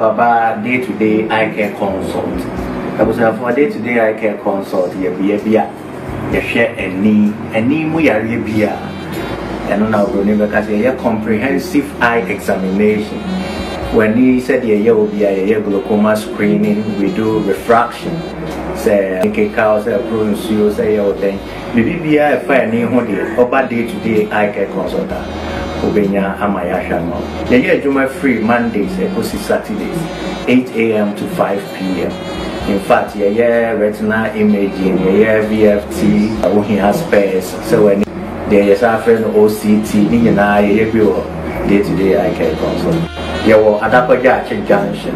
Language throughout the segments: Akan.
Baba day to day eye care consult abusuafoɔ day to day eye care consult yɛ bea bi a yɛhwɛ ani ani mu yareɛ bi a ɛno na oburoni bɛka sɛ yɛyɛ comprehensive eye examination w'ani sɛdeɛ ɛyɛ wɔ bia yɛyɛ glaucoma screening we do refraction sɛ nkekaw, sɛ ɛporo nsuo, sɛ ɛyɛ wo dɛn, biribi biara a ɛfa ani ho deɛ, ɔba day to day eye care consult a, wobɛnya ama yɛahwɛ ama wo. Yɛyɛ adwuma firi Mondays ɛkɔsi Saturdays, 8am to 5pm. In fact, yɛyɛ retinal imaging, yɛyɛ VFT, wohia specs, sɛ w'ani, deɛ yɛsan frɛ no OCT, ne nyinaa yɛyɛ bi wɔ day to day eye care consult. Yɛwɔ Adakwa Gyaakye junction.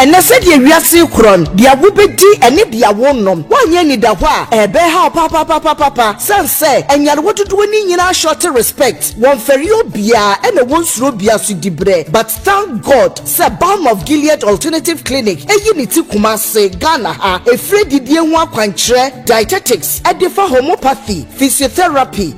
ɛnɛ sɛdeɛ wiase korɔ no deɛ wobɛdi ɛne deɛ wonom woanyɛ anidahɔ a ɛbɛhaw papapapapa sɛn sɛ anyarewa dodoɔ no nyinaa short respect wɔmfɛre obiara ɛna wɔnsuro bia so diberɛ but thank god sɛ balm of gilead alternative clinic ɛyi ne ti kuma ase ghana ha ɛfiri adidie ho akwankyerɛ dietetics ɛde fa homopathy physiotherapy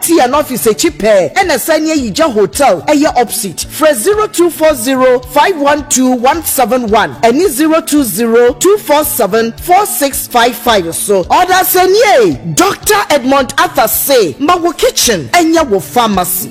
Tea no office akyi pɛɛ ɛna ɛsan ne Ayigya hotel ɛyɛ opsit. Frɛ zero two four zero five one two one seven one ɛne zero two zero two four seven four six five five so. Ɔdasɛniee, Doctor Edmond Arthur se ma wo kitchen ɛnyɛ wo pharmacy.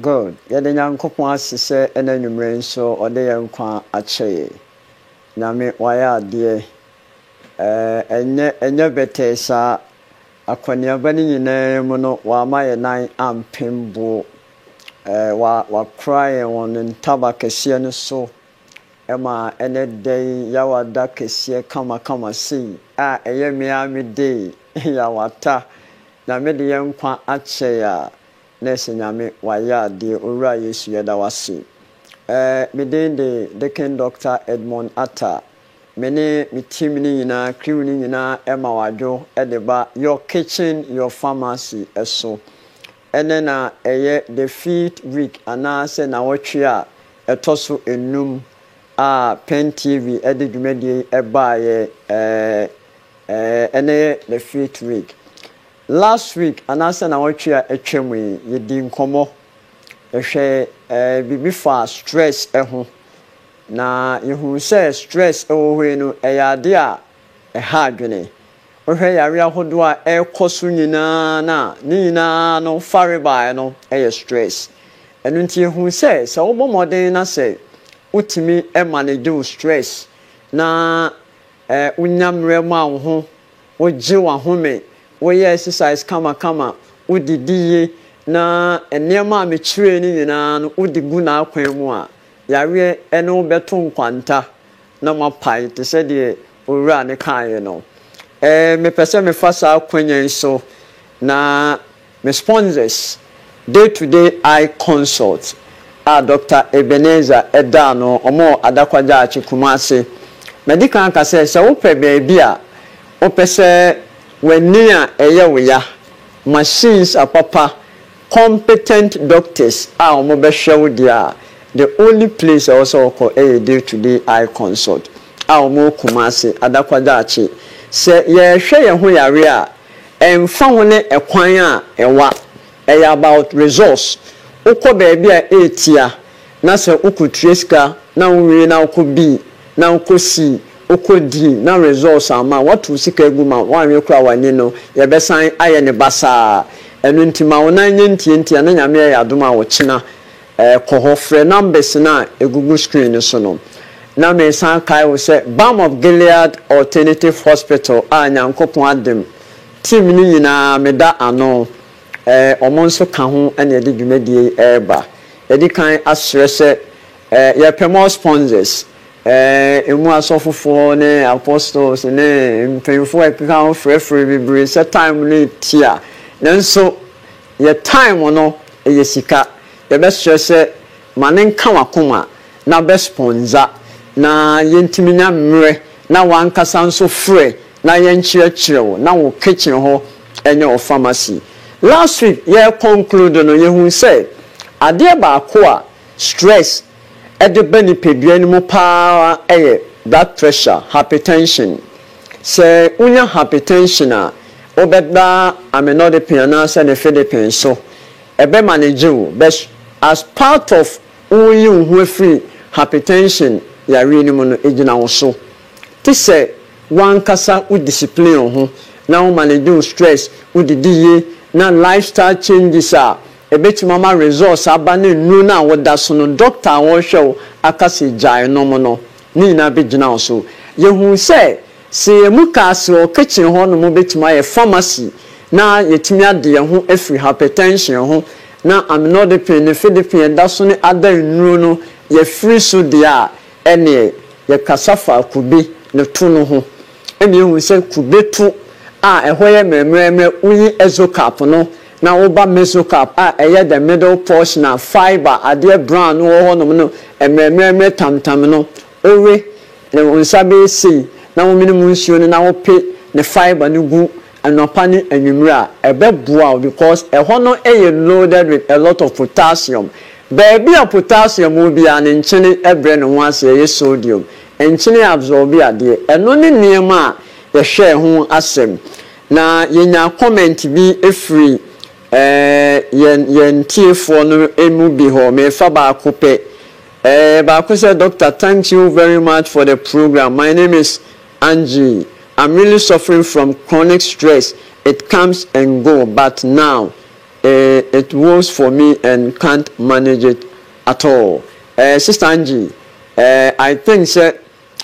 Good. Yɛda Nyankopɔn ase sɛ ɛna anwumerɛ nso ɔde yɛn nkwa akyɛ yɛ. Nyame wayɛ adeɛ. Ɛɛh ɛnyɛ ɛnyɛ bɛtɛɛ saa. Akɔneaba no nyinaa mu no wama yɛn nan ampem boɔ. Ɛɛh wa wakora yɛn wɔ ne ntaba kɛseɛ no so ɛma ɛnɛ da yi yawa da kɛseɛ kama kama sei a ɛyɛ me ara me dee yawata. Nyame de yɛn nkwa akyɛ yɛ a Na ɛsɛ Nyame wayɛ adeɛ Owura Yesu yɛda wo ase eh Me din de Dicken Doctor Edmond Atta Me ne me team no nyinaa crew no nyinaa ɛma wo adwo de ba your kitchen your pharmacy so Ɛnɛ na ɛyɛ the fifth week anaa sɛ nawɔtwe a ɛtɔ so nnum a Pen TV de dwumadie yi baeɛ eh eh Ɛnɛ yɛ the fifth week Last week anaasɛ naawɔtwe a atwa mu yi yɛdii nkɔmmɔ, yɛhwɛɛ eh, biribi faa stress ho, na yɛhuu sɛ stress wɔ hɔ yi no ɛyɛ adeɛ a ɛha adwene. Wohwɛ yareɛ ahodoɔ a ɛrekɔ so nyinaa no a, ne nyinaa no farebae no yɛ stress. Ɛno nti yɛhuu sɛ, sɛ wobɔ mmɔden na sɛ wotumi manage wo stress na eh, wonya mmerɛ ma wo ho, wogye w'ahome, woyɛ exercise kamakama, wodidi ye, na nneɛma a mekyerɛɛ no nyinaa no wode gu n'akwan mu a, yareɛ ne wo bɛto nkwanta na moapae te sɛ deɛ Owura no kaeɛ no. Ɛɛ, mepɛ sɛ mefa saa akwanya yi so na Me Sponsors, Day-to-day eye consult a Dɔkta Ebenezer da ano, wɔwɔ Adakwa-Gyaakye, Kumasi. Madi kan aka sɛ, sɛ wopɛ baabi a wopɛ sɛ w'ani a ɛyɛ wo ya, machines a papa, competent doctors a wɔbɛhwɛ wo deɛ a, the only place a ɛwɔ sɛ wokɔ yɛ Day-to-day eye consult a wɔwɔ Kumasi, Adakwa-Gyaakye. Sɛ yɛrehwɛ yɛn ho yareɛ a, Ɛnfa ho ne ɛkwan a ɛwa, ɛyɛ about resource, wokɔ baabi a ɛretia na sɛ wokɔtua sika na wowie na wokɔ bii na wokɔ sii, wokɔ dii na resource amma a, woato wo sika agu ma woanwe koraa w'ani no yɛbɛsan ayɛ no basaa. Ɛno nti ma wo nan nyɛ ntiantia na Nyame ayɛ adom a ɔkyena Kɔ hɔ frɛ numbers no a ɛgugu screen no so no. Na mesan kae wo sɛ Balm of Gilead Alternative Hospital a Nyankopɔn adom team no nyinaa meda ano, wɔn nso ka ho na yɛde dwumadie yi reba. Yɛdi kan asrɛ sɛ yɛpɛ more sponsors, ɛmu asɔfofoɔ ne apostles ne mpaninfoɔ a ɛkeka ho frɛfrɛ bebree sɛ time no ɛti a nanso Yɛ time no yɛ sika. Yɛbɛsrɛ sɛ ma no nka w'akoma na bɛ spɔndza na yentumi nya mmerɛ na w'ankasa nso frɛ na yɛnkyerɛkyerɛ wo na wo kitchen hɔ nyɛ wo pharmacy. Last week yɛreconclude no yɛhuu sɛ adeɛ baako a stress ɛde ba nipadua no mu pa ara yɛ blood pressure, hypertension. Sɛ wunya hypertension a, wobɛda amlodipine anaasɛ nifedipine so. Ɛbɛ manage wo, but as part of wo reyi wo ho afiri hypertension yareɛ no mu no, ɛgyina wo so. Te sɛ w'ankasa wo discipline wo ho na wo manage wo stress, wo didi yie na lifestyle changes a Ebetumi ama results aba na nnuru no a woda so no, dɔkta a ɔrehwɛ wo aka sɛ gyae nom no, ne nyinaa begyina wo so. Yehu sɛ, sɛ yɛn mu kaa sɛ wɔ kitchen hɔnom wobetumi ayɛ pharmacy na yɛatumi ade yɛn ho afiri hypertension ho, na aminodepen ne fedepin a ɛda so ne other nnuru no yɛafiri so deɛ a, ɛnneɛ yɛkasa faa kube ne to no ho, ɛnna yehu sɛ kube to a ɛhɔ yɛ mmerɛmmerɛmmerɛ, woyi exocap no na woba mesocap a ɛyɛ the middle portion a fibre adeɛ brown no wɔ hɔnom no mmerɛmmerɛmmerɛ tamtam no, wowe na wo nsa bɛyɛ sei na womene mu nsuo no na wope ne fibre no gu anɔpa ne anwummere a, ɛbɛboa wo because ɛhɔ no yɛ loaded with a lot of potassium. Baabi a potassium wɔ biara no nkyene brɛ ne ho ase, ɛyɛ sodium. Nkyene absorbe adeɛ. Ɛno ne nneɛma a yɛhwɛɛ ho asɛm. Na yɛnya comment bi firi yɛn yɛn tiefoɔ no mu bi hɔ, merefa baako pɛ. Ɛyɛ baako sɛ, Doctor thanks you very much for the program, my name is Angie, I'm really suffering from chronic stress, it comes and go but now eh it rolls for me and can't manage it at all. Eh Sister Angie, eh I think sɛ.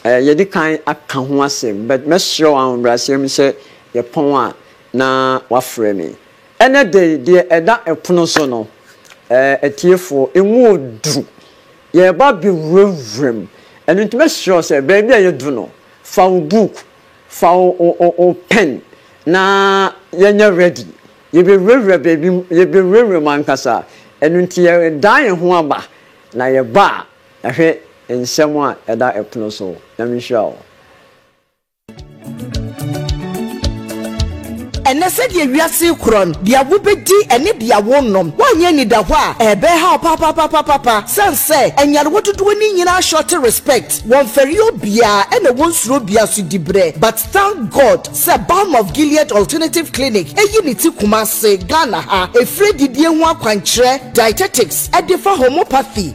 Yɛadi kan aka ho asɛm, but mɛsrɛ wo ahobrɛaseɛ mu sɛ yɛpɔn a na woafrɛ me. Ɛnnɛ da yi, deɛ ɛda pono so no, atiefoɔ, ɛmu ɔduru. Yɛreba abɛwurawura mu. Ɛno nti mɛsrɛ wo sɛ, baabi a yɛadu no, fa wo book, fa wo pen na yɛnyɛ ready. Yɛbɛwurawura baabi mu, yɛbɛwurawura mu ankasa. Ɛno nti yɛdan yɛn ho aba, na yɛba a, Na hwɛ nsɛm a ɛda ɛpono so. Nyame nhyira wo. Ɛnnɛ, sɛdeɛ wiase rekorɔ no, deɛ wobɛdi ne deɛ worenom, woanyɛ anidahɔ a, ɛbɛha wo papaapapapa. Sane sɛ anyarewa dodoɔ no nyinaa shorte respect, wɔmfɛre obiara ɛna wɔnsuro obiara so diberɛ. But thank God sɛ Balm of Gilead Alternative Clinic ayi ne ti Kumasi, Ghana ha, ɛfiri adidie ho akwankyerɛ, dietetics, ɛdefa homopathy,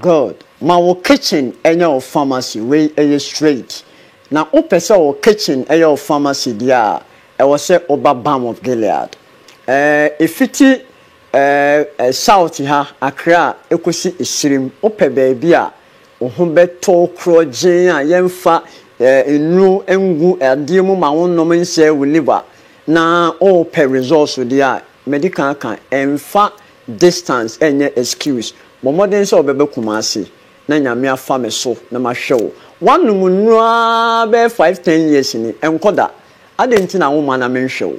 Good ma wo kitchen nyɛ wo pharmacy wei yɛ straight na wo pɛ sɛ wo kitchen yɛ wo pharmacy deɛ a ɛwɔ sɛ wo ba balm of Gilead eh ɛfiti eh eh south ha Accra ɛkɔsi ɛsirim wo pɛ baabi a wo ho bɛ tɔ wo korɔgyeen a yɛn fa eh nnuro ngu adeɛ mu ma wo nom nsɛe wo liver na wo pɛ results deɛ a mɛdi kan aka ɛnfa Distance ɛnyɛ excuse. Bɔ mmɔden sɛ wobɛba Kumasi na Nyame afa me so na mahwɛ wo. Woanom nnuro aa bɛyɛ five, ten years ni, ɛnkɔ da. Adɛn nti na womma na menhwɛ wo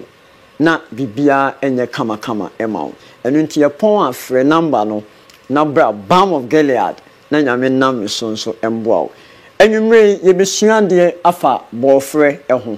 na biribiara nyɛ kama kama ma wo? Ɛno nti yɛpɔn a frɛ number no na bra Balm of Gilead na Nyame nam me so nso mboa wo. Anwumerɛ yi yɛbɛsua adeɛ afa bɔɔfrɛ ho.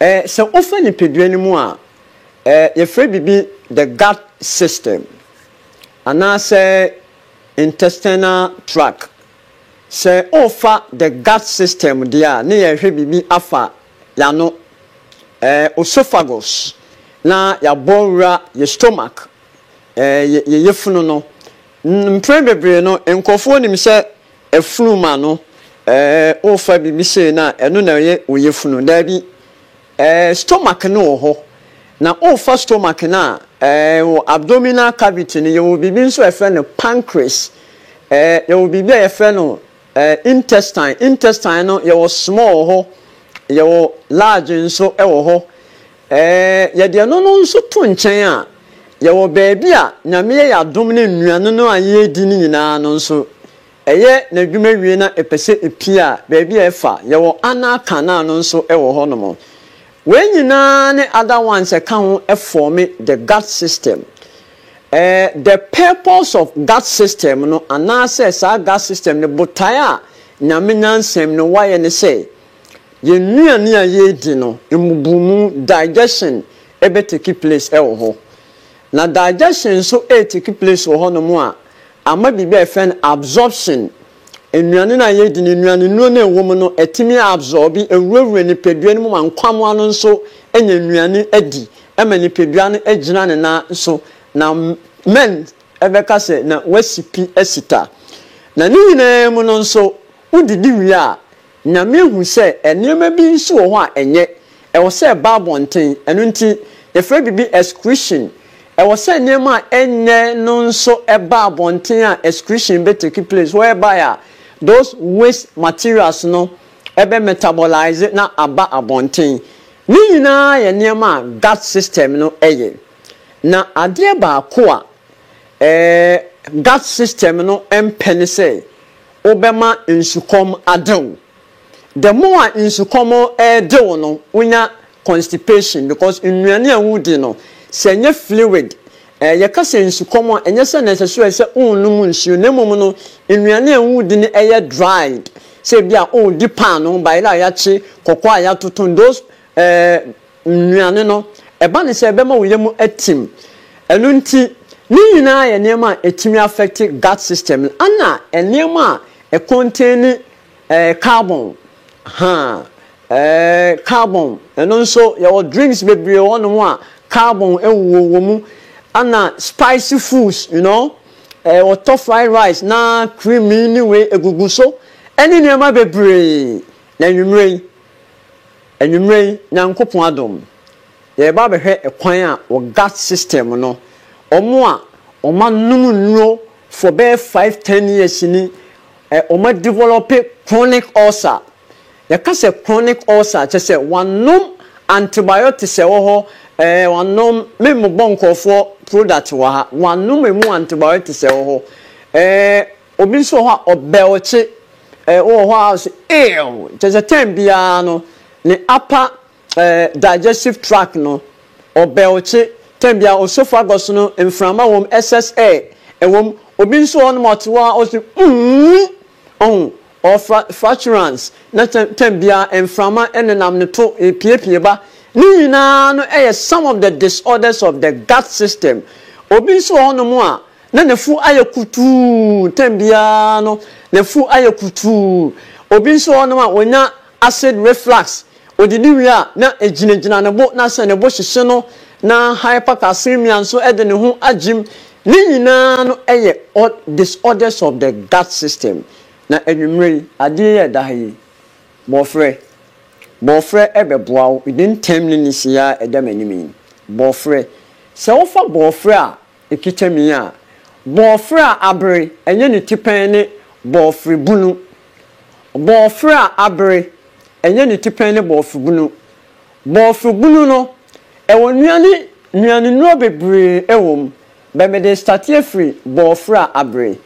Ɛɛ, sɛ wofa nipadua no mu a, ɛɛ, yɛfrɛ biribi the gut system anaasɛ intestinal tract. Sɛ worefa the gut system deɛ a, ne yɛrehwɛ biribi afa y'ano, ɛɛ, osophagus, na y'abɔ wura yɛ stomach, ɛɛ, yɛ yɛ yafunu no. Mpren bebree no, nkorɔfoɔ nim sɛ Afunu ma no ɛɛ wofa biribi sei no a ɛno na ɛyɛ wo yafunu daabi ɛɛ stomach no wɔ hɔ na wofa stomach no a ɛɛ wɔ abdominal cavity no yɛwɔ biribi nso a yɛfrɛ no pancreas ɛɛ yɛwɔ biribi a yɛfrɛ no ɛɛ intestine intestine no yɛwɔ small wɔ hɔ yɛwɔ large nso wɔ hɔ Ɛɛ, yɛde ɛno no nso to nkyɛn a, yɛwɔ baabi a Nyame yɛ yɛn adom ne nnuane no a yɛredi no nyinaa no nso, ɛyɛ n'adwuma wie na ɛpɛ sɛ ɛpue a, baabi a ɛfa, yɛwɔ anal canal no nso wɔ hɔnom. Wei nyinaa ne other ones ɛka ho fɔɔme the gut system. Ɛɛ, the purpose of gut system no anaasɛ saa gut system no botae a Nyame nyansam no wayɛ ne sɛ, Yɛn nnuane a yɛredi no mmubumu, digestion, bɛ take place wɔ hɔ. Na digestion nso retake place wɔ hɔnom a, ama biribi a yɛfrɛ no absorption. Nnuane no a yɛredi no, nnuane nnuro no a ɛwɔ mu no, ɛtumi absorbe, ɛwurawura nipadua no mu ma nkwammoa no nso nya nnuane di ma nipadua no gyina ne nan so. Na men bɛka sɛ, na woasi pi asi ta. Na ne nyinaa mu no nso, wodidi wie a, Na mehu sɛ nneɛma bi nso wɔ hɔ a ɛnyɛ, ɛwɔ sɛ ɛba abɔnten, ɛno nti yɛfrɛ biribi excretion. Ɛwɔ sɛ nneɛma a ɛnyɛ no nso ba abɔnten a excretion bɛ take place whereby a those waste materials no bɛ metabolise na aba abɔnten. Ne nyinaa yɛ nneɛma a gut system no yɛ. Na adeɛ baako a ɛɛ gut system no mpɛ ne sɛ wobɛma nsukɔm ade wo. The more a nsukɔm de wo no, wonya constipation because nnuane a wodi no, sɛ ɛnyɛ fluid, eh, yɛka sɛ nsukɔm a, ɛnyɛ sɛ necessarily sɛ wonnom nsuo, na mmom no, nnuane a wodi no ɛyɛ dried, sɛ ebi a wodi paano, bayerɛ a yɛakye, kɔkɔɔ a yɛatoto, those Ɛɛ, nnuane no, ɛba no sɛ ɛbɛma wo yam atim. Ɛno nti, ne nyinaa yɛ nneɛma a ɛtumi afɛkte gut system no, ɛna nneɛma a ɛkɔntɛni ɛɛ carbon, haa, ɛɛ carbon, ɛno nso yɛwɔ drinks bebree wɔ hɔnom a carbon wɔ wɔn mu, ɛna spicy foods, you know, ɛɛ wɔtɔ fried rice na cream yi ne wei ɛgugu so, ɛne nneɛma bebree. Na anwummerɛ yi, Anwummerɛ yi, Nyankopɔn adom no, yɛreba abɛhwɛ kwan a wɔ Gat system no, wɔn a wɔn anom nnuro for bɛyɛ five, ten years ni, wɔn a develop chronic ulcer. Yɛka sɛ chronic ulcer a, kyerɛ sɛ wɔanom antibiotics a ɛwɔ hɔ, ɛɛ wɔanom, me mmobɔ nkorɔfoɔ product wɔ ha, wɔanom ɛmu antibiotics a ɛwɔ hɔ, ɛɛ. Obi nso wɔ hɔ a ɔbɛlkye. Ɛɛ wowɔ hɔ ara nso eew. Kyerɛ sɛ term biara no ne upper ɛɛ digestive tract no ɔbɛlkye. Term biara osophagus no mframa wom, excess air ɛwom. Obi nso wɔ hɔnom a ɔte hɔ ara ɔse uumm. Ɔhu? Ɔwɔ fra fraturance. Na kyerɛ term biara mframa nenam no to epiepie ba. Ne nyinaa no yɛ some of the disorders of the gut system. Obi nso wɔ hɔnom a Na n'afuw ayɛ kutuu, tɛm biara no n'afuw ayɛ kutuu. Obi nso wɔ hɔnom a onya acid reflux, odidi wie a na egyinagyina ne bo na sɛ ne bo hyehye no, na hypercalcemia nso de ne ho agyem. Ne nyinaa no yɛ disorders of the gut system. Na anwummere yi, ade yi a ɛda ha yi, bɔfrɛ, bɔfrɛ bɛboa wo, ne ntɛm ne ne se a ɛda m'anim yi, bɔfrɛ. Sɛ wofa bɔfrɛ a, Ekikyɛmi a, bɔɔfrɛ a abere, ɛnyɛ ne ti pɛn ne bɔɔfre bunu. Bɔɔfrɛ a abere, ɛnyɛ ne ti pɛn ne bɔɔfre bunu. Bɔɔfre bunu no, ɛwɔ nnuane nnuanennuro bebree wɔ mu, bɛ mede state afiri bɔɔfrɛ a abere.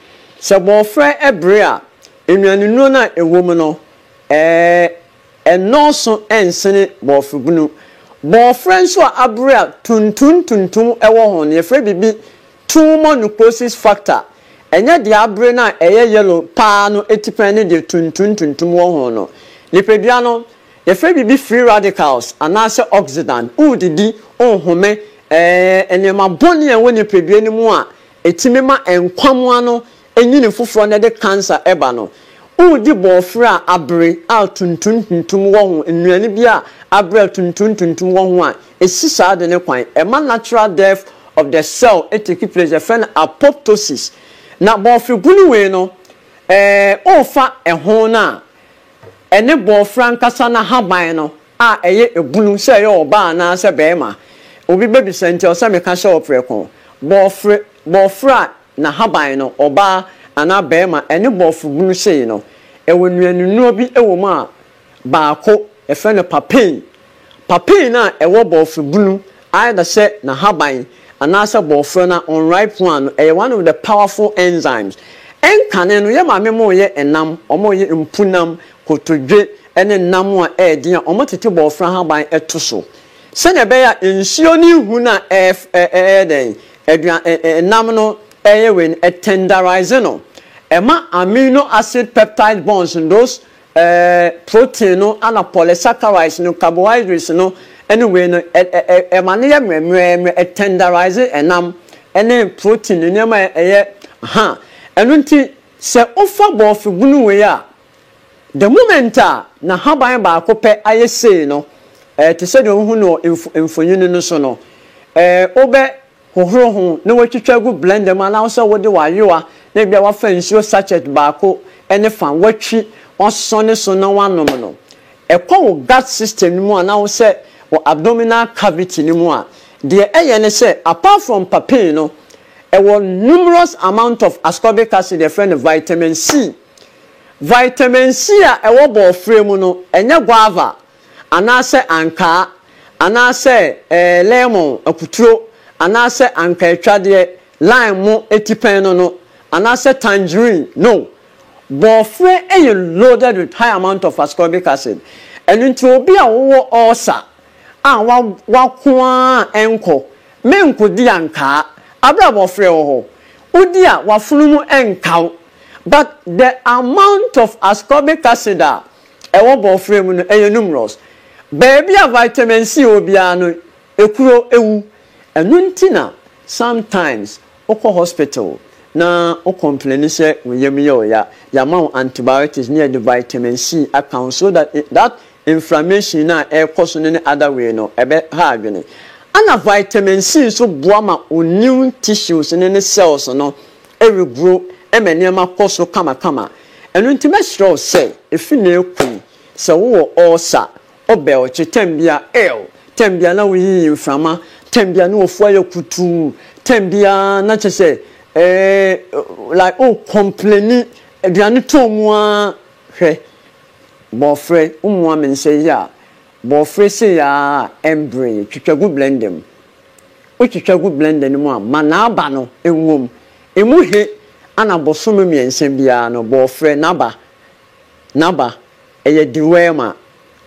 Sɛ bɔɔfrɛ bere a, nnuanennuro no a ɛwɔ mu no, ɛɛ. Ɛnnɔɔso nsene bɔɔfrobunu. Bɔɔfrɛ nso a abere a tuntun tuntum wɔ ho no, yɛfrɛ biribi tumonoposis factor. Ɛnyɛ deɛ abere no a ɛyɛ yellow paa no atipɛn ne deɛ tuntun tuntum wɔ ho no. Nipadua no, yɛfrɛ biribi free radicals anaasɛ oxidant. Woredidi, worehome, ɛyɛ nneɛma bɔne a ɛwɔ nipadua no mu a ɛtumi ma nkwammoa no Nwini foforɔ na ɛde cancer ba no. Woredi bɔɔfrɛ a abere a tuntum tuntum wɔ ho, nnuane bi a abere a tuntum tuntum wɔ ho a, ɛsi saa ade no kwan. Ɛma natural death of the cell take place, yɛfrɛ no apoptosis. Na bɔɔfrɛ bunu wei no, ɛɛ worefa ɛho no a, ɛne bɔɔfrɛ ankasa n'ahaban no a ɛyɛ bunu sɛ ɛyɛ ɔbaa anaa sɛ barima. Obi bɛbisa nti ɛwɔ sɛ meka hyɛ wo prɛko. Bɔɔfrɛ bɔɔfrɛ a N'ahaban no, ɔbaa anaa barima ne Borɔfo bunu sei no, ɛwɔ nnuanennuro bi wɔ mu a baako yɛfrɛ no papain. Papain no a ɛwɔ Borɔfo bunu, either sɛ n'ahaban anaasɛ Borɔfo no a unripe one no, ɛyɛ one of the powerful enzymes. Nkane no, yɛn maame mo yɛ nam, wɔn yɛ mpunam, kotodwe ne nam a ɛyɛ den a wɔtete Borɔfo ahaban to so. Sɛnea ɛbɛyɛ a nsuo no nhu no a ɛf ɛ ɛyɛ dɛn adua ɛ ɛ nam no yɛ wei no, ɛtɛndarise no, ɛma amino acid peptide bonds no, those ɛɛ protein no ɛna polysaccharides no, carbohydrates no ne wei no, ɛ ɛ ɛ ɛma no yɛ mmerɛmmerɛmmerɛ, ɛtɛndarise ɛnam ne protein nneɛma a ɛyɛ ha. Ɛno nti, sɛ wofa bɔɔfebunu wei a, The moment a n'ahaban baako pɛ ayɛ sei no, eh, te sɛdeɛ wohu no wɔ mf mfonini no so no, eh, wobɛ hohoro ho na woatwitwa agu blender mu anaa sɛ wode w'ayowa na ebia woafa nsuo sachet baako ne fa woatwi w'asosɔ ne so na woanom no. Ɛkɔ wo gut system no mu anaa wo sɛ wo abdominal cavity no mu a, deɛ ɛyɛ ne sɛ apart from papain no, ɛwɔ numerous amount of ascorbic acid a yɛfrɛ no vitamin C. Vitamin C a ɛwɔ bɔɔfrɛ mu no, ɛnyɛ guava, anaasɛ ankaa, anaasɛ lemon, akuturo, anaasɛ ankaatwadeɛ, lime, mo atipɛn no no, anaasɛ tangerine, no. Bɔɔfrɛ yɛ loaded with high amount of ascorbic acid, ɛno nti obi a wowɔ ulcer a wako ara a ɛnkɔ, menkɔdi ankaa, aberɛ a bɔɔfrɛ wɔ hɔ, wodi a w'afono mu nkaw. But the amount of ascorbic acid a ɛwɔ bɔɔfrɛ mu no ɛyɛ numerous. Baabi a vitamin C wɔ biara no ekuro ewu. Ɛno nti na sometimes wokɔ hospital na wo complaini sɛ wo yam yɛ wo ya, yɛama wo antibiotics na yɛde vitamin C aka ho so that that inflammation no a ɛrekɔ so no ne other way no ɛbɛha adwene. Ɛna vitamin C nso boa ma wo new tissues no ne cells no regoro ma nneɛma kɔ so kamakama. Ɛno nti mɛsrɛ wo sɛ efi nnɛ rekɔ yi, sɛ wowɔ ɔɔsa, ɔbɛlkye, tɛnbea, ew, tɛnbea na woyiyi mframa, tɛnbea na wofua yɛ kutuu, tɛnbea na kyerɛ sɛ eeh like o kɔmpleni, aduane tɔn mu ara, hwɛ, bɔfrɛ, wommoa me nsɛ yi a, Borɔfrɛ sei ara a ɛmbre yi, twitwa gu blender mu. Wotwitwa gu blender no mu a, ma n'aba no nwom. Ɛmu he ana bosome mmiɛnsa biara no, borɔfrɛ, n'aba, n'aba, ɛyɛ deworm a.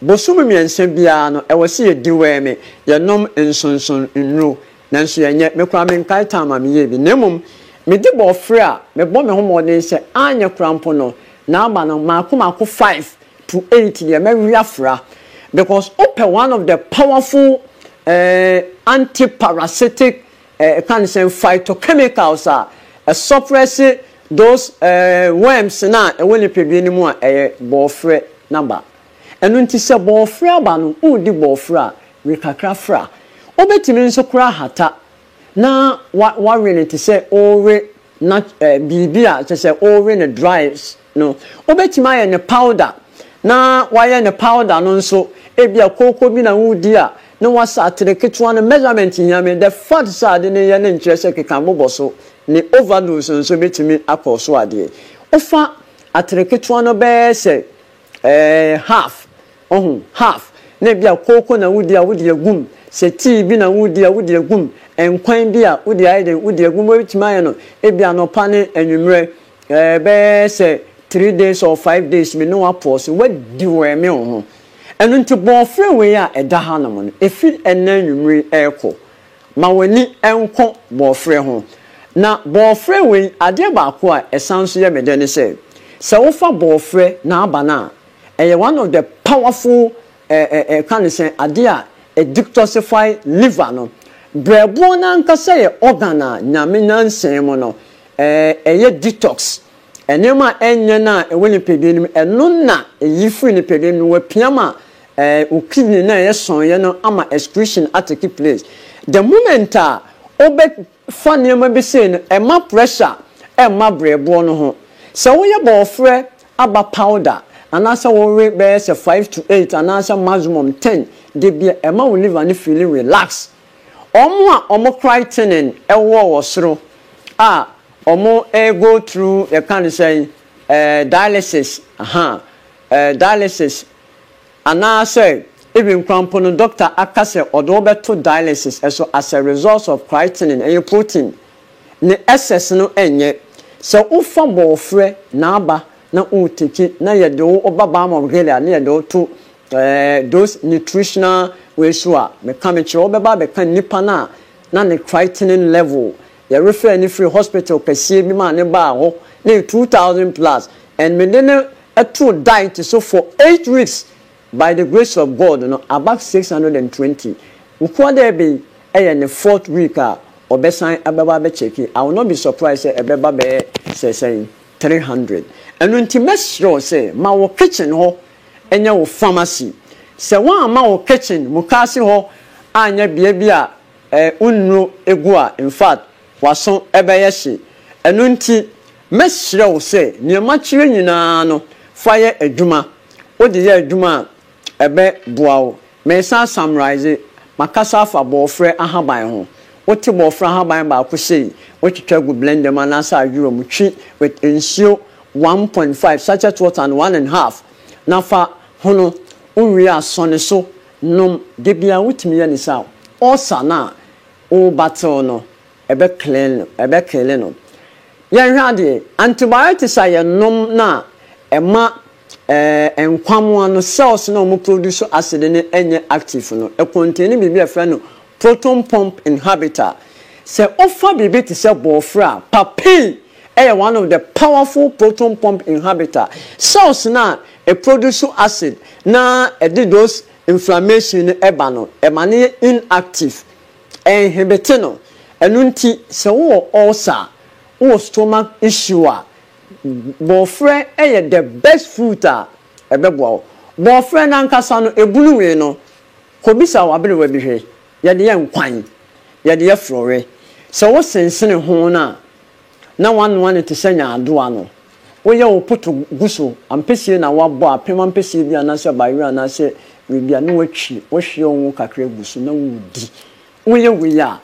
Bosome mmiɛnsa biara no, ɛwɔ sɛ yɛdeworme, yɛnom nsonson nnuro. Nanso yɛnyɛ. Me koraa menkae time a meyɛɛ bi. Na mmom, mede borɔfrɛ a mebɔ me ho mmɔden sɛ anyɛ koraa mpo no, n'aba no, mmaako mmaako five to eight deɛ mɛwe afra because wopɛ one of the powerful eh, antiparasitic eh, can say phytochemicals a ɛsuppress those eh, worms no a ɛwɔ nipadua no mu a ɛyɛ bɔɔfrɛ no aba ɛno nti sɛ bɔɔfrɛ aba no wodi bɔɔfrɛ a we kakra fra wobɛtumi nso kora hata na wa wawe no te sɛ worewe nut ɛɛ biribi a kyerɛ sɛ worewe no dry no. Wobɛtumi ayɛ no powder na wayɛ no powder no nso ebia kooko bi na woredi a na wasa atere ketewa no measurement hia me the fact sɛ ade no yɛ no nkyerɛ sɛ keka bobɔ so ne overdose nso bɛtumi akɔɔso adeɛ. Wofa atere ketewa no bɛyɛ sɛ Ɛɛ, half. Wahu? Half. Na ebia kooko na wudi a, wode agu mu. Sɛ tii bi na woredi a, wode agu mu. Nkwan bi a, wode ayɛ dɛn? Wode agu mu. Wubetumi ayɛ no ebia anɔpa ne anwummere. Ɛɛ, bɛyɛ sɛ three days or five days, me ne wo apɔw so. Woadiwɛɛme wo ho. Ɛno nti, bɔɔfrɛ wei a ɛda hanom no, efi ɛnnɛ anwummere yi rekɔ, ma w'ani nnkɔ bɔɔfrɛ ho. Na bɔɔfrɛ wei, adeɛ baako a ɛsan nso yɛ me dɛ ne sɛ, sɛ wofa bɔɔfrɛ na aba no a, ɛyɛ one of the powerful eh eh eh ka ne sɛn, adeɛ a ɛ detoxify liver no. Brɛboɔ no ankasa yɛ organ a Nyame nyansaɛ mu no, eh ɛyɛ detox. Nneɛma a ɛnyɛ no a ɛwɔ nipadua no mu, ɛno na ɛyi firi nipadua no mu, wɔapia ma wo kidney no a ɛyɛ sɔneeɛ no ama excretion atake place. The moment a wobɛfa nneɛma bi sei no, ɛma pressure ɛmma berɛboɔ no ho. Sɛ woyɛ bɔɔferɛ aba powder anaasɛ wowe bɛyɛ sɛ five to eight anaasɛ maximum ten da bi a, ɛma wo liver no feeli relaxed. Wɔn a wɔn crytenin wɔ wɔ soro a wɔn go through yɛka no sɛn eh dialysis ahaa eh dialysis anaa sɛ even koraa mpo no doctor aka sɛ ɔde wo bɛto dialysis so as a result of crytenin ɛyɛ protein ne excess no ɛnyɛ sɛ wo fa bɔɔfrɛ na aba na wo teki na yɛde wo ba Balm of Gilead na yɛde wo to Those nutritional wei so a meka mekyerɛ wo bɛba abɛka nnipa no a na ne creatinine level yɛ refer no firi hospital kɛseɛ bi mu a ne baa hɔ na ɛyɛ two thousand plus and mede no too diet so for eight weeks by the grace of God no above six hundred and twenty nkoa dɛ ɛbɛ yi ɛyɛ ne fourth week a ɔbɛsan abɛba abɛkyɛki I will not be surprised sɛ ɛbɛba bɛyɛ sɛ sɛn three hundred ɛno nti mɛsrɛ wo sɛ ma wɔ kitchen hɔ ɛnyɛ wo pharmacy. Sɛ woamma wo kitchen, mukaase hɔ anyɛ bea bi a wo nnuro gu a, in fact, w'aso bɛyɛ hye. Ɛno nti, mɛsrɛ wo sɛ nea makyerɛ nyinaa no, fa yɛ adwuma. Wode yɛ adwuma a, ɛbɛboa wo Meresan summarise, makasa afa bɔɔfrɛ ahaban ho. Wote bɔɔfrɛ ahaban baako sei, wotwitwa gu blender mu anaasɛ ayowa mu, twi with nsuo one point five, sachet water and one and half na fa hono. Wowie a sɔ ne so nom, da biara wotumi yɛ ne saa a, ulcer no a wo battle no ɛbɛ clean, ɛbɛ kille no. Yɛnhwɛ adeɛ, antibiotics a yɛnom no a ɛma. Nkwammoaa no cells no a wɔn produce acid no nyɛ active no containi biribi a yɛfrɛ no proton pump inhibitor. Sɛ wofa biribi te sɛ bɔɔfrɛ a, papain yɛ one of the powerful proton pump inhibitor. Cells no a ɛproduce acid na ɛde those inflammation no ba no, ɛma no yɛ inactive. Ɛinhibite no. Ɛno nti sɛ wowɔ ulcer a, wowɔ stomach issue a, Bɔɔfrɛ yɛ the best fruit a ɛbɛboa wo. Bɔɔfrɛ no ankasa no, ɛbunu wee no, kɔbisa w'aberewa bi hwɛ. Yɛde yɛ nkwan. Yɛde yɛ frɔwɛ. Sɛ wo sensene ho no a, na woanoa no te sɛ nyaadoa no. Woyɛ wo poto gu so, ampesie na woabɔ, apem ampesie bi anaasɛ bayerɛ anaasɛ wei bi a, na woatwi, wohwie wo ngo kakra gu so na woredi. Woyɛ wei a.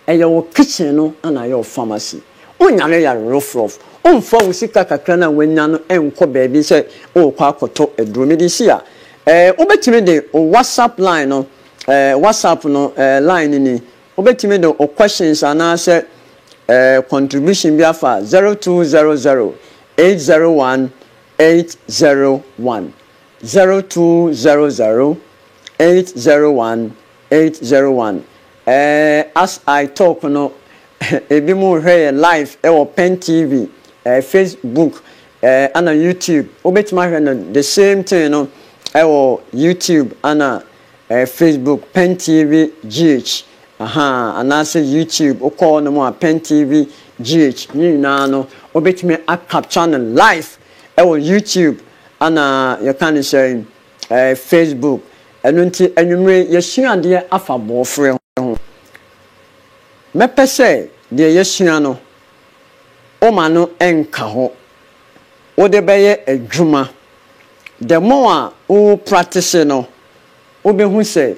Ɛyɛ wo kitchen no na ayɛ wo pharmacy. Wonyare yare rofrof. Womfa wo sika kakra no a woanya no nkɔ baabi sɛ worekɔ akɔtɔ aduro. Mede si a, eh, wobɛtumi de wo WhatsApp line no, eh, WhatsApp no, eh, line no ni. Wobɛtumi de wo questions anaasɛ, eh, contribution bi afa 0200 801 801, 0200 801 801. Eh as I talk no ebi mo hwɛ yɛ live ɛwɔ pen TV eh face book eh ana you tube wo betumi ahwɛ no the same thing no ɛwɔ you tube ana eh face book pen TV GH ahaa anaasɛ you tube wo kɔ hɔ nom a pen TV GH ne nyinaa no wo betumi a capture no live ɛwɔ you tube ana yɛ ka ne sɛn. Eh, Facebook. Ɛno nti anwummere yi yɛasua adeɛ afa bɔɔfrɛ ho. Mɛpɛ sɛ deɛ yɛasua no, woma no nka hɔ. Wode bɛyɛ adwuma. The more a wo practice no, wobɛhu sɛ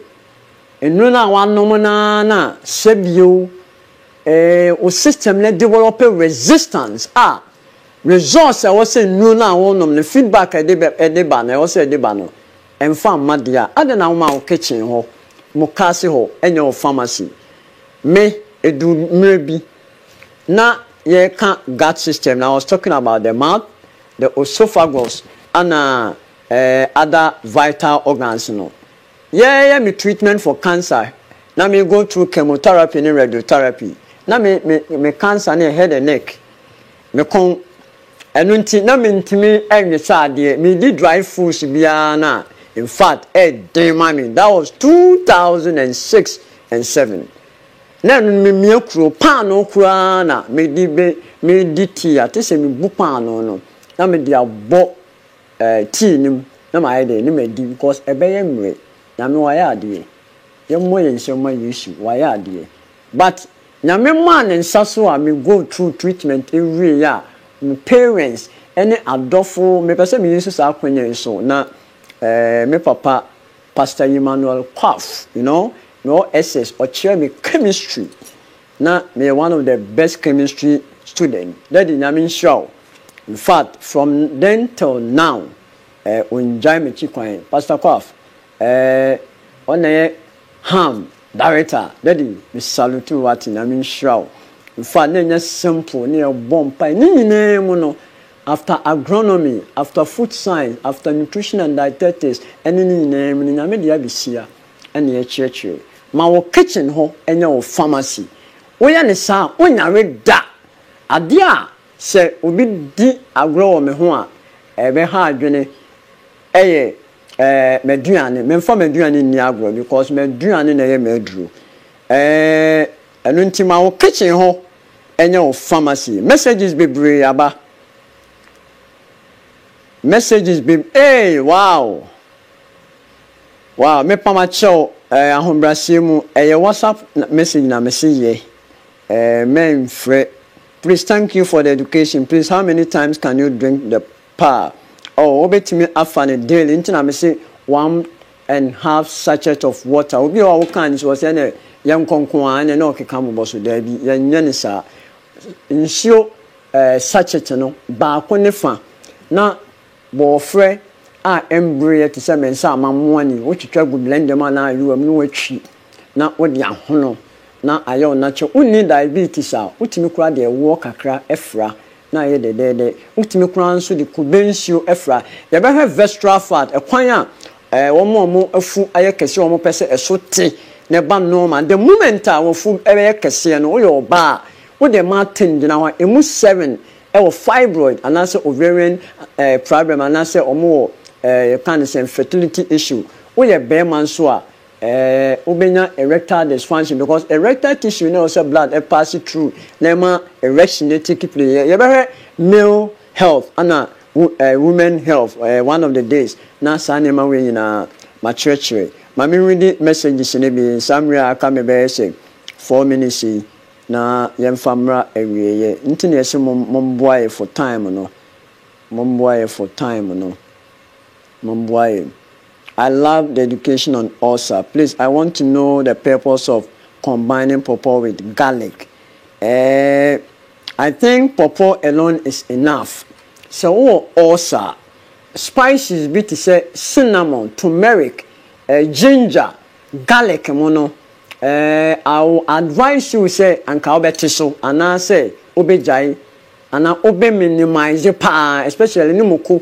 nnuro no a woanom no ara na sɛ bio eh, wo system no develop resistance a Results a ɛwɔ sɛ nnuro no a wonom no, feedback a ɛde ba no, ɛwɔ sɛ ɛde ba no, ɛmfa mma deɛ a, adɛn na woma wo kitchen hɔ, mukaase hɔ, ɛnyɛ wo pharmacy? Me, ɛduru mmerɛ bi na yɛreka gut system no, I was talking about the mouth, the oesophagus ɛna other vital organs no. Yɛreyɛ me treatment for cancer, na me go through chemotherapy ne radiotherapy, na me cancer no yɛ head and neck, Me kɔn. Ɛno nti na mentumi nwe sɛ adeɛ. Medi dry foods biara no a, in fact, ɛyɛ den ma me. That was two thousand and six and seven. Na ɛno no memia kuro, paanoo koraa na mede bɛ, medi tea a, te sɛ mebu paanoo no na mede abɔ eh, tea no mu na mayɛ dɛn, na madi because ɛbɛyɛ mmerɛ. Nyame wayɛ adeɛ. Yɛmmɔ yɛn nsam mma Yesu, wayɛ adeɛ. But Nyame maa ne nsa so a me go through treatment ɛwieɛ a me parents ɛne adɔfo me pɛ sɛ me use saa akwanya yi so na eh me papa Pastor Emmanuel Kwaff you know me wɔ SS ɔkyerɛɛ me chemistry na me yɛ one of the best chemistry student daddy Nyame nhyira wo infact from then till now eh ongyae makyi kwan Pastor Kwaff Ɛɛ ɔna yɛ Ham director daddy me salute wo wate nyame nhyira wo infact na ɛnyɛ simple na yɛ bɔ mpae ne nyinaa mu no after agronomy after food science after nutrition and dietetics ɛne ne nyinaa mu no nyame de abesia ɛna yɛ kyerɛkyerɛ ma wo kitchen hɔ ɛnyɛ wo pharmacy wo yɛ no saa a wo nyare da adeɛ a sɛ obi di agorɔ wɔ me ho a ɛbɛ ha adwene ɛyɛ Ɛɛ m'aduane, memfa m'aduane nni agorɔ because m'aduane na ɛyɛ m'aduro. Ɛɛ ɛno nti ma wo kitchen hɔ nyɛ wo pharmacy. Messages bebree aba. Messages be ee wow! Wow mepa makyɛw ɛɛ ahobraseɛ mu ɛyɛ WhatsApp message na mese yɛ ɛɛ mɛnfrɛ. Please thank you for the education please how many times can you drink the Paa. Oh wobɛtumi afa no daily nti na mese one and half sachet of water obi wɔ hɔ a wokaa no sɛ ɔsɛ ɛnɛ yɛnkɔ nko a ɛnɛ na ɔkeka mobɔ so daabi yɛnyɛ no saa nsuo eh, sachet no baako ne fa na bɔɔfrɛ a ɛmbereɛ te sɛ mensa ama mmoa ni wotwitwa gu blender mu anaa ayewa mu na watwi na wode ahono na ayɛ wo natural. Wonni diabetes a, wotumi koraa de ɛwoɔ kakra fra na ayɛ dɛdɛɛdɛ. Wotumi koraa nso de kube nsuo fra. Yɛbɛhwɛ vestral fat, ɛkwan a wɔn a wɔn afu ayɛ kɛseɛ a wɔpɛ sɛ ɛso te na ɛba normal. The moment a w'afu bɛyɛ kɛseɛ no, woyɛ ɔbaa a, wode mmaa ten gyina hɔ a, ɛmu seven wɔ fibroid anaasɛ ovarian problem anaasɛ wɔwɔ yɛka no sɛn, fertility issue. Woyɛ barima nso a, Ɛɛ, wobenya erectile dysfunction because erectile tissue na ɛwɔ sɛ blood pass through na ɛma erection no take place. Yɛ, yɛbɛhwɛ male health ɛna wo, ɛɛ, women health ɛɛ, one of the days na saa nneɛma wei nyinaa makyerɛkyerɛ. Ma me readi messages no bi saa mmerɛ a aka me bɛyɛ sɛ four minutes yi na yɛmfa mmra awieɛ. Nti na yɛse mom, momboa yɛ for time no. Momboa yɛ for time no. Momboa yɛ. I love the education on ulcer please I want to know the purpose of combining pawpaw with garlic eh I think pawpaw alone is enough sɛ wowɔ ulcer a spices bi te sɛ cinnamon, turmeric, eh ginger, garlic mo no eh I will advise you sɛ anka wobɛte so anaa sɛ wobɛgyae anaa wobɛ minimize paa especially ne moko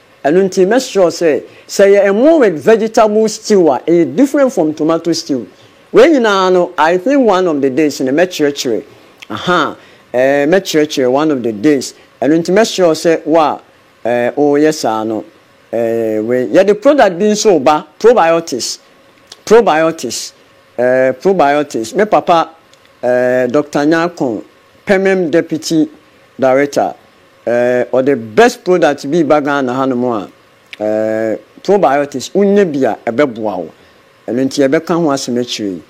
Ɛno nti make sure sɛ, sɛ ɛyɛ ɛmo with vegetable stew a, ɛyɛ different from tomato stew. Wei nyinaa no, I think one of the days no mɛkyerɛkyerɛ, ahaa, eh, mɛkyerɛkyerɛ one of the days. Ɛno nti make sure sɛ wo a, eh, woyɛ saa no, eh, wei. Yɛde product bi nso reba, probiotics, probiotics, eh, probiotics. Me papa, eh, Doctor Nyarkon, Pemem Deputy Director, Eh ɔde best product bi ba Ghana ha nom a eh probiotics wonya bi a ɛbɛboa wo ɛno nti yɛbɛka ho asɛm akyire yi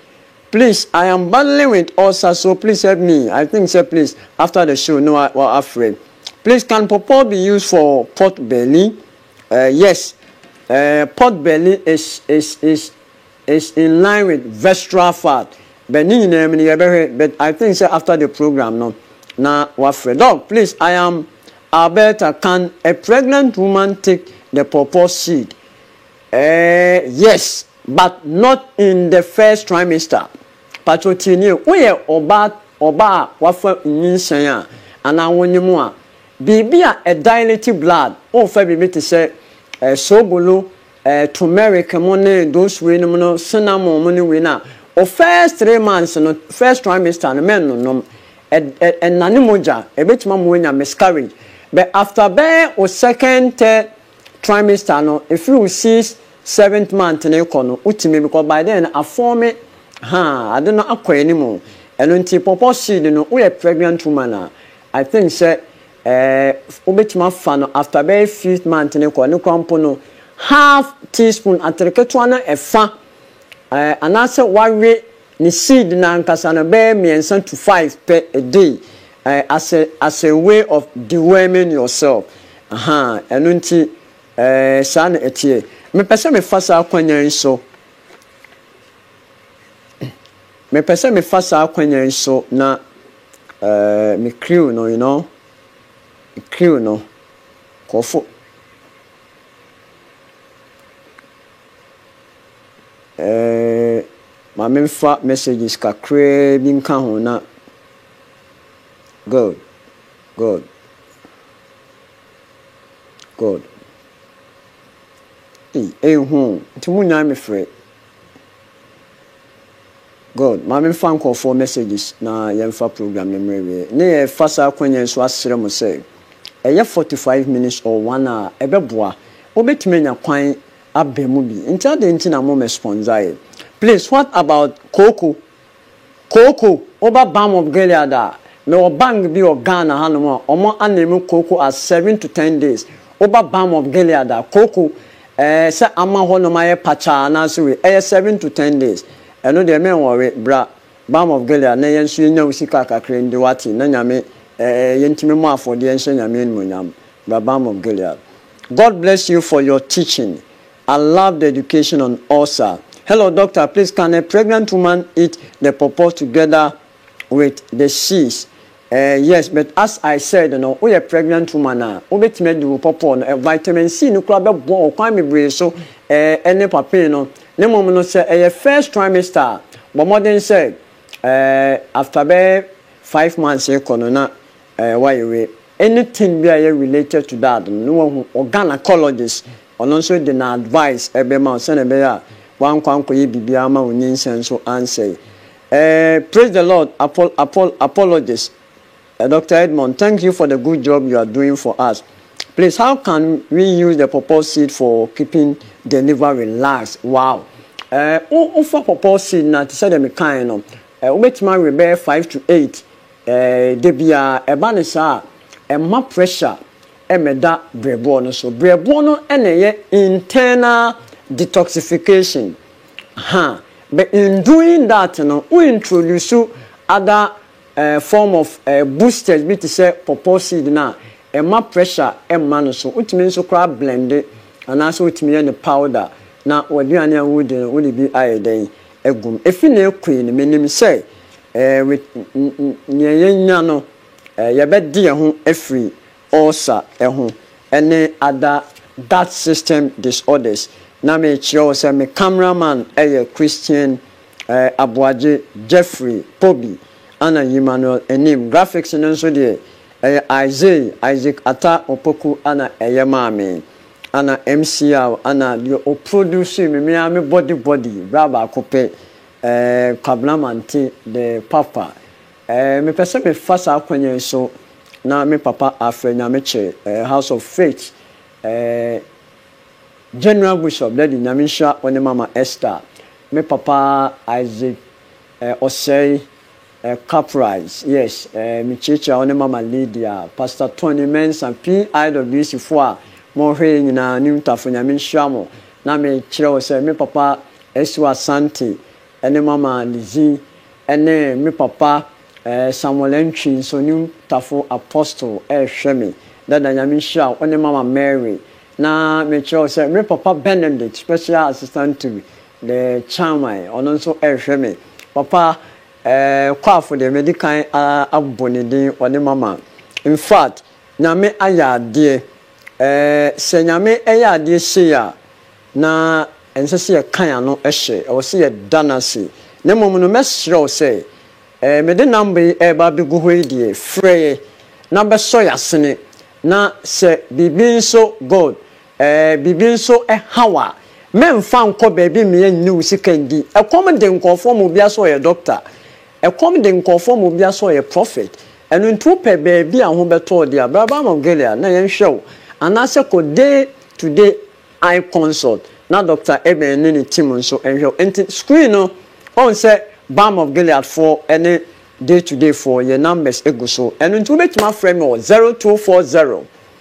please I am battling with ulcer so please help me I think sɛ please after the show no wa afrɛ please can pawpaw be used for pot belly eh yes eh pot belly is is is It's in line with vestral fat but ne nyinaa mu no yɛbɛhwɛ but I think sɛ after the program no na wafrɛ. Doc please I am Alberta can a pregnant woman take the pawpaw seed? Ɛɛɛ yes but not in the first trimester patro tie nie woyɛ ɔbaa ɔbaa a wafa nyinsɛn a anaa wonye mu a biribi a ɛdilate blood wofa biribi te sɛ soobolo eh, turmeric mo ne those wei nom no, cinnamon mo ne wei no a, o first three months no, first trimester no mɛnnonom. Ɛ, ɛ, ɛnane mogya, ɛbɛtumi ama wanya miscarriage. But after bɛyɛ o second, third trimester no, ɛfiri o six, seventh month no rekɔ no, wotumi because by then no afɔɔme, haa, ade no akɔ anim. Ɛno nti pawpaw seed no, woyɛ pregnant woman a, I think sɛ eh wobɛtumi afa no after bɛyɛ fifth month no kɔ ne kora mpo no half teaspoon atere ketewa no ɛfa eh anaasɛ wawe ne seed no ankasa no bɛyɛ mmiɛnsa to five pɛ a day eh as a as a way of deworming yourself ahaa ɛno nti eh saa na ɛteɛ mepɛ sɛ mefa saa akwanya yi so Mepɛ sɛ mefa saa akwanya yi so na eh, me crew no, you know, me crew no, nkurɔfo eh, ma memfa messages kakraa bi nka ho na good, good, good. Ei, ei ho, nti mo nyaa me frɛ. God, ma me mfa nkorɔfoɔ messages na yɛn mfa program no mmrɛ awieɛ. Ne yɛ fa saa akwanya yi so asrɛ mo sɛ, ɛyɛ forty five minutes or one hour a, ɛbɛboa. Wo bɛtumi anya kwan abɛ mu bi. Nti adɛn nti na mo mɛspɔnzaeɛ? Please what about kooko? Kooko, woba Balm of Gilead a, mewɔ bank bi wɔ Ghana hanom a, ɔmo aname kooko as seven to ten days. Woba Balm of Gilead a, kooko, ɛɛ, sɛ ama hɔnom ayɛ pakyaa anaase wei, ɛyɛ seven to ten days. Ɛno deɛ, men wɔre, bra Balm of Gilead na yɛn nso yɛnya wo sika kakra ndi, wate, na Nyame, ɛɛ, yɛntumi mmɔ afɔdeɛ nhyɛ Nyame animuonyam. Bra Balm of Gilead. God bless you for your teaching. I love the education on ulcer. Hello doctor please can a pregnant woman eat the pawpaw together with the seeds eh yes but as I said no woyɛ pregnant woman a wobɛtumi adi wo pawpaw no eh vitamin C no koraa bɛboa wo kwan bebree so eh ɛne papain no ne mmom no sɛ ɛyɛ first trimester a bɔ mmɔden sɛ eh after bɛyɛ five months rekɔ no na eh woayɛ wei. Anything bi a ɛyɛ related to that no na wahu wɔ gynacologist ɔno nso de na advice ɛbɛma wo sɛnea ɛbɛyɛ a wankɔ ankɔyɛ biribiara ama wo nyinsɛn nso ansɛe. Eh praise the Lord apol apol apologist eh Doctor Edmond thank you for the good job you are doing for us please how can we use the pawpaw seed for keeping the liver relaxed wow eh wo wofa pawpaw seed no a te sɛ deɛ mekaeɛ no eh wobɛtumi awe bɛyɛ five to eight Ɛɛ, da biara ɛba no saa a, ɛmma pressure mmɛda berɛboɔ no so. Berɛboɔ no na ɛyɛ internal detoxification. Ha, but in doing that no, wo introduce other ɛɛ form of ɛɛ boosters bi te sɛ pawpaw seed no a, ɛmma pressure mma no so. Wotumi nso koraa blend, anaasɛ wotumi yɛ no powder na w'aduane a woredi no wode bi ayɛ dɛn? agu no. Efi na ekue no, minim sɛ nea yɛanya no, yɛbɛde yɛn ho afiri ulcer ho ne other gut system disorders. Na merekyerɛ wo sɛ me camera man yɛ Christian Aboagye, Jeffrey, Poby, ɛna Emmanuel Anim. Graphics no nso deɛ, ɛyɛ Isay, Isaac Attah Opoku na ɛyɛ maa me. Ana MCR ana deɛ o produce me me ara me body body bra baako pɛ eh Kwabena Mante the papa eh Me pɛ sɛ me fa saa kwan yɛn so na me papa afrɛ Nyamekyɛ eh house of faith eh General Bishop Daddy Nyame nhyira wo ne mama Esther Me papa Isaac Eh ɔsɛe eh caprice yes eh me kyekyerɛ a wo ne mama Lydia pastor Tony Mensa PIWC foɔ a mo hwɛ yɛ nyinaa new tafo nyame nhyira mo na me kyerɛ wo sɛ me papa Asu Asante ɛne mama Lizzie ɛne me papa eh Samuel Antwi nso new tafo apostle ɛhwɛ me dada nyame nhyira wo ne mama Mary na me kyerɛ wo sɛ me papa Benedict special assistant to The chairman, ɔno nso rehwɛ me. Papa eh, Kwafo deɛ medi kan abɔ ne din, ɔne Mama. In fact, Nyame ayɛ adeɛ eh, sɛ Nyame yɛ adeɛ sei a, na ɛnsɛ sɛ yɛka yɛn ano hyɛ, ɛwɔ sɛ yɛda no ase. Na mmom no, mɛsrɛ wo sɛ eh, mede number yi reba abɛgu hɔ yi deɛ, frɛ yɛ na bɛsɔ yɛn asene, na sɛ biribi nso, God, Ɛɛ biribi nso haw a, mɛmfa nkɔ baabi mmea nnye wo sika ndi. Ɛkɔm de nkurɔfoɔ ma obi asɛ ɔyɛ dɔkta. Ɛkɔm de nkurɔfoɔ ma obi asɛ ɔyɛ prɔfɛt. Ɛno nti wopɛ baabi a ho bɛtɔ wo deɛ a, bra Balm of Gilead na yɛnhwɛ wo. Anaasɛ kɔ Day to Day Eye Consult na Dɔkta Eben ne ne team nso nhwɛ wo. Nti screen no, woahu sɛ Balm of Gilead foɔ ne Day to Day foɔ, yɛn numbers gu so. Ɛno nti wobɛtumi afrɛ me wɔ zero two four zero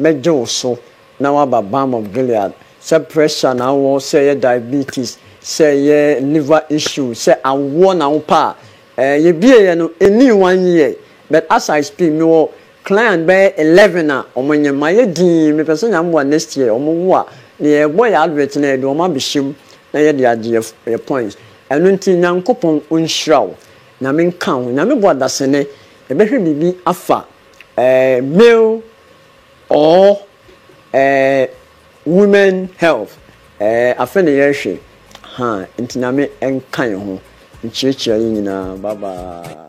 Mɛgye wo so na woaba Balm of Gilead. Sɛ pressure na wowɔ, sɛ ɛyɛ diabetes, sɛ ɛyɛ liver issue, sɛ awoɔ na wopɛ a, eh, yɛbieeɛ no, ɛnnii one year, but as I speak, mewɔ client bɛyɛ eleven a wɔnyem. Mayɛ dinn, mepɛ sɛ Nyame boa next year wɔwo a, deɛ yɛbɔ yɛn advert no a, yɛde wɔn abɛhyɛ mu na yɛde agye yɛn yɛn points. Ɛno nti Nyankopɔn ɔnhyira wo. Nyame nka wo ho. Nyame boa dasene, yɛbɛhwɛ biribi afa male or women health afei na yɛhwɛ ha nti nyame nka yɛn ho nkyerɛkyerɛ yɛn nyinaa bye bye.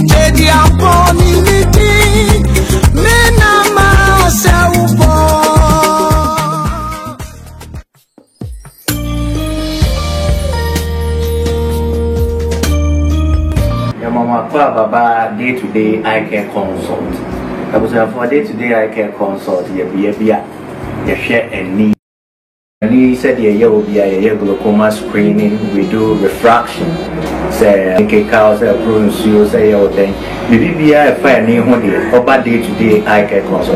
Baba day to day eye care consult abusuafoɔ day to day eye care consult yɛ bea bi a yɛhwɛ ani. Ne yi sɛdeɛ ɛyɛ wɔ bia yɛyɛ glaucoma screening we do refraction sɛ nkeka sɛ ɛporo nsuo sɛ yɛ wo dɛn biribi biara ɛfa ani ho deɛ ɔba day to day eye care consult.